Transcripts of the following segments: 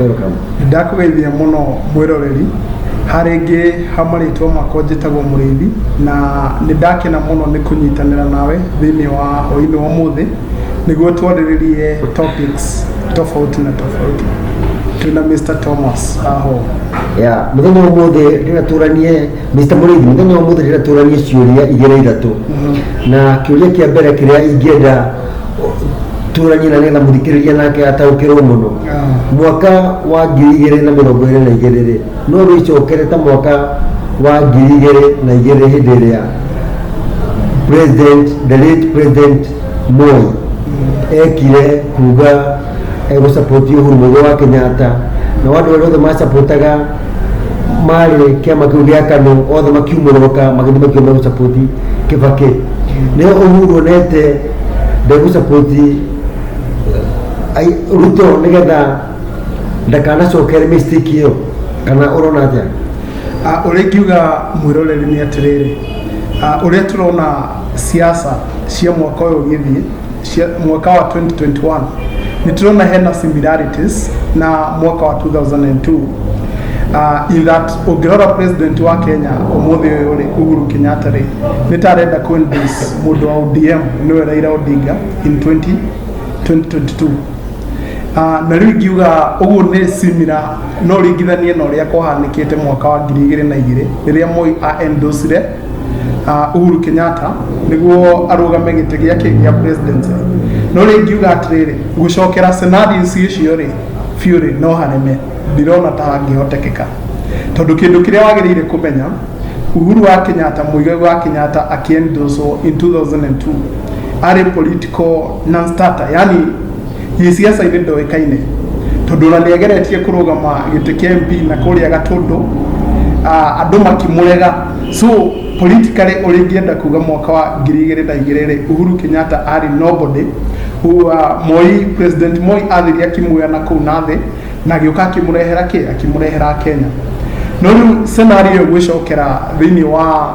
Welcome. ndakũgeithia mũno mwĩroreri harĩ ngĩ ha marĩtwa makwa njĩtagwo mũrĩithi na nĩ ndakena mũno nĩ kũnyitanĩra nawe thĩinĩ wa hwainĩ wa mũthĩ nĩguo twarĩrĩrie topics tofauti na tofauti twĩna mr thomas aho ya muthenya wa umuthi rira turanie Mr Murithi muthenya wa umuthi rira turanie ciuria igiri ithatu na kiuria kia mbere kiria ingienda tũrani na nĩgetha mũthikĩrĩria nake ataũkĩrwo mũno mwaka wa ngiri igĩrĩ na mĩrongo ĩrĩ na igĩrĩ rĩ no wĩcokere ta mwaka wa ngiri igĩrĩ na igĩrĩ hĩndĩ ĩrĩa president the late president Moi ekire kuga egũsapoti Uhuru Mũigai wa Kenyatta na andũ arĩa othe masapotaga marĩ kĩama kĩu gĩa KANU othe makiumũrũka magĩthiĩ makiuga megũsapoti Kĩbakĩ nĩo Uhuru onete ndegũsapoti Ruto nĩgetha ndakanacokere mistake ĩyo kana ũrona atĩa ũrĩa ingiuga mwĩroreri nĩ atĩrĩrĩ ũrĩa tũrona siasa cia mwaka ũyũ ũgĩthiĩ cia mwaka wa 2021 nitirona hena similarities na mwaka wa 2002 uh, in that ũngĩrora president wa kenya ũmũthĩ ũyũ rĩ uhuru kenyatta rĩ nĩ ta arenda kũendorse mũndũ wa odm nĩwe raira odinga in 20, 2022 Uh, na rĩu ingiuga ũguo nĩ simira no ringithanie na ũrĩa kwahanĩkĩte mwaka wa ngiri igĩrĩ na igĩrĩ rĩrĩa moi aendosire uh, Uhuru Kenyatta niguo arugame gite giake gia president no ri ngiuga atiriri gucokera scenarios icio ri biu ri no hanene ndirona ta hangihotekeka tondu kindu kiria wagirire kumenya Uhuru wa Kenyatta muigai wa Kenyatta akiendoswo in 2002 ari political non-starter yani Gĩciaca-inĩ ndoĩkaine tondũ ona nĩ ageretie kũrũgama gĩtĩ kĩa MP na kũrĩa Gatũndũ ah, andũ makĩmũrega so politically ũrĩa ingĩenda kuga mwaka wa ngiri igĩrĩ na igĩrĩ rĩ Uhuru Kenyatta arĩ nobody who, ah, Moi president Moi athiria akĩmuoya na kũu na thĩ na agĩũka akĩmũrehera kĩ akĩmũrehera Kenya no rĩu scenario ĩyo ĩgwĩcokera thĩinĩ wa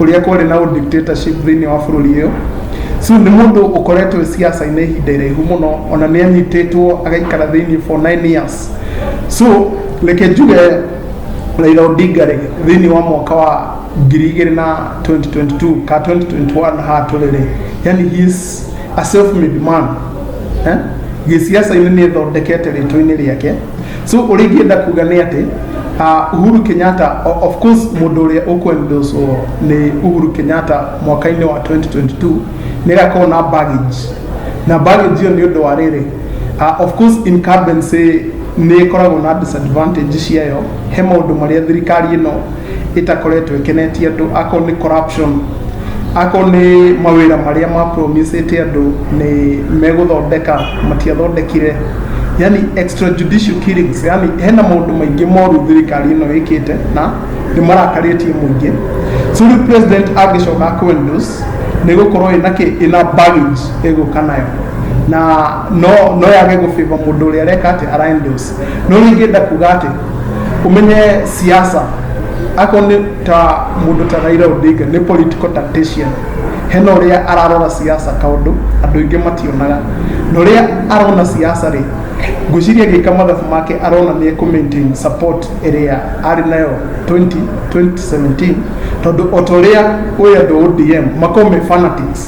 ũrĩa kwarĩ na dictatorship thĩinĩ wa bũrũri ũyũ so nĩ mũndũ ũkoretwo siasa-inĩ ihinda iraihu mũno ona nĩ anyitĩtwo agaikara thĩinĩ for nine years so reke njuge Raila Odinga rĩ thĩinĩ wa mwaka wa ngiri igĩrĩ na 2022 ka 2021 haha tũrĩ rĩ yani he is a self made man eh? gĩciaca-inĩ nĩ ĩthondekete rĩtwa-inĩ rĩake so ũrĩa ingĩenda kuga nĩ atĩ uh, Uhuru Kenyatta o- of course mũndũ ũrĩa ũkwendoswo nĩ Uhuru Kenyatta mwaka-inĩ wa 2022 nĩ agakorwo na baggage na baggage ĩyo nĩ ũndũ wa rĩrĩ uh, of course incumbency nĩ ĩkoragwo na disadvantage ciayo he maũndũ marĩa thirikari ĩno ĩtakoretwo ĩkenetie andũ akorwo nĩ corruption akorwo nĩ mawĩra marĩa mapromisĩte andũ nĩ megũthondeka matiathondekire yani extrajudicial killings yani hena maũndũ maingĩ moru thirikari ĩno ĩkĩte na nĩ marakarĩtie mũingĩ so rĩu president angĩcoka kwendus nĩ gũkorwo ĩna kĩ ĩna baggage ĩgũka nayo na no no yage gũbĩva mũndũ ũrĩa areka atĩ araendus no rĩngĩ ndakuga atĩ ũmenye siasa ako nĩ ta mũndũ ta Raila Odinga nĩ political tactician hena ũrĩa ararora siasa kaũndũ andũ aingĩ mationaga na ũrĩa arona siasa rĩ ngwĩciria gĩka mathabu make arona nĩ ekũ maintain support ĩrĩa arĩ nayo 20 2017 tondũ o ta ũrĩa ũyũ andũ ODM makoo me fanatics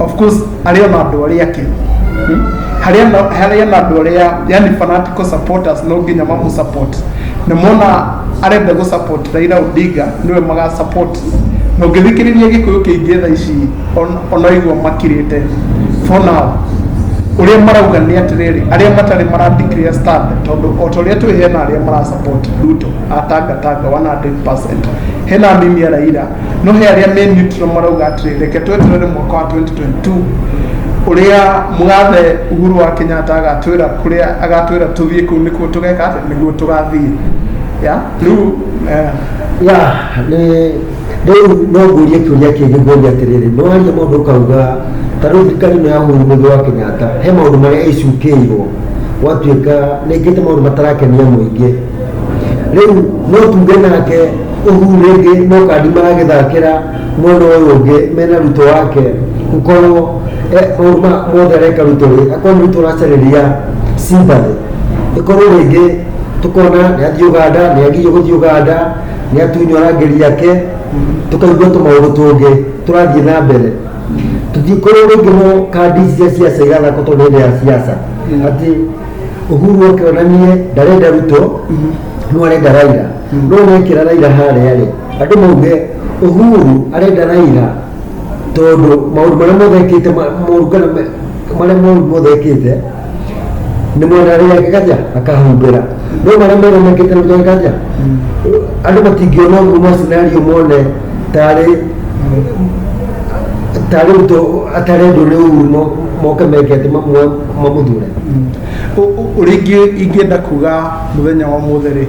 of course arĩ ona andũ arĩa angĩ Hmm? harĩ ona harĩ ona andũ arĩa yani fanatical supporters no nginya mamũ support na mona arenda gũ support Raila Odinga niwe maga support na ũngĩthikĩrĩria gĩkũyũ kĩingĩ tha ici on- ona igua makirĩte for now ũrĩa marauga nĩ atĩrĩrĩ arĩa matarĩ mara declare stand tondũ o ta ũrĩa twĩ hena arĩa mara support Ruto atanga tanga 100% hena mimi ya Raila no he arĩa me neutral marauga atĩrĩ reke tweterere mwaka wa 2022 ũrĩa mũgathe uhuru wa kenyatta agatwĩra kũrĩa agatwĩra tũthiĩ kũu nĩkuo tũgeka atĩ nĩguo tũgathiĩ ya rĩu eh, ya nĩ rĩu no ngũrie kĩũria kĩngĩ ngũria atĩrĩrĩ nĩ waria mũndũ ũkauga ta rĩu thirikari ĩno ya mũndũ mũndũ wa kenyatta he maũndũ marĩa ĩcukĩirwo gwatuĩka nĩngĩte maũndũ matarakenia mũingĩ rĩu no tuge nake ũhu rĩngĩ no kandi maragĩthakĩra mwena ũyũ ũngĩ mena rutwo wake gũkorwo eh, maũndũ ma- mothe areka rutwo rĩ akorwo nĩ rutwo racarĩria simbathĩ ĩkorwo rĩngĩ tũkona nĩ athiĩ ũganda nĩ agirio gũthiĩ ũganda nĩ atunywo rangĩri yake tũkaigua tũmaũndũ tũngĩ tũrathiĩ na mbere tũtikorwo rĩngĩ no kandi ici cia siasa igathakwo tondũ hĩndĩ ya siasa atĩ uhuru oke onanie ndarenda ruto no arenda raira no wekira raira harĩa rĩ andũ mauge uhuru arenda raira tondũ maũndũ marĩa mothe ekĩte ma- moru kana me- marĩa moru mothe ekĩte nĩ mwena arĩa ake kaja akahumbĩra no marĩa mega mekĩte nĩ mwena kaja andũ matingĩona ũguo ma scenario mone tarĩ tarĩ ruto atarendwo nĩ uhuru mo- moke meke atĩ mamwe kuma mũthure ũrĩa ingĩ- ingĩenda kuga mũthenya wa mũthĩ rĩ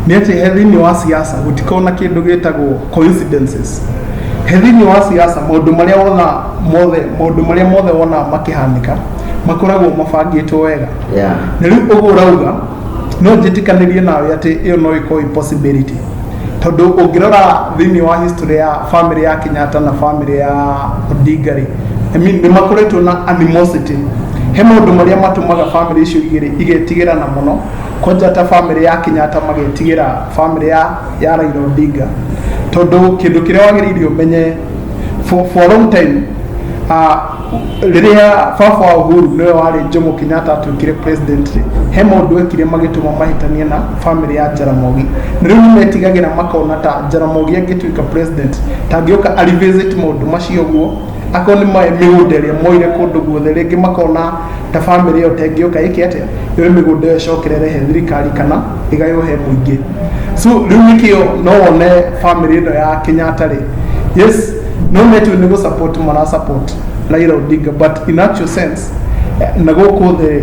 nĩ atĩ he thĩinĩ wa siasa gũtikorwo na kĩndũ gĩtagwo coincidences he thĩinĩ wa siasa maũndũ marĩa wona mothe maũndũ marĩa mothe wona makĩhanĩka makoragwo mabangĩtwo wega Yeah. na rĩu ũguo ũrauga no njĩtĩkanĩrie nawe atĩ ĩyo no ĩkorwo ĩ possibility tondũ ũngĩrora thĩinĩ wa history ya family ya Kenyatta na family ya Odinga rĩ I mean, nĩ makoretwo na animosity he maũndũ marĩa matũmaga family icio igĩrĩ igetigĩrana mũno kwanja ta family ya Kenyatta magetigĩra family ya, ya Raila Odinga tondũ kĩndũ kĩrĩa wagĩrĩire ũmenye for, for a long time uh, rĩrĩa baba wa Uhuru nĩwe warĩ Jomo Kenyatta atuĩkire president rĩ he maũndũ ekire magĩtũma mahĩtanie na family ya Jaramogi na rĩu nĩmetigagĩra makona ta Jaramogi angĩtuĩka president tangĩoka a revisit maũndũ macio ũguo akorwo nĩ maĩ mĩgũnda ĩrĩa moire kũndũ guothe rĩngĩ makona ta family ĩyo tengĩoka ĩke atĩa yoe mĩgũnda ĩyo ĩcokerere he thirikari kana igayo he mũingĩ so rĩu nĩkĩo no wone family ĩno ya Kenyatta rĩ yes no metu nĩ gũ support mara support Raila Odinga but in actual sense eh, na gũkũ thĩ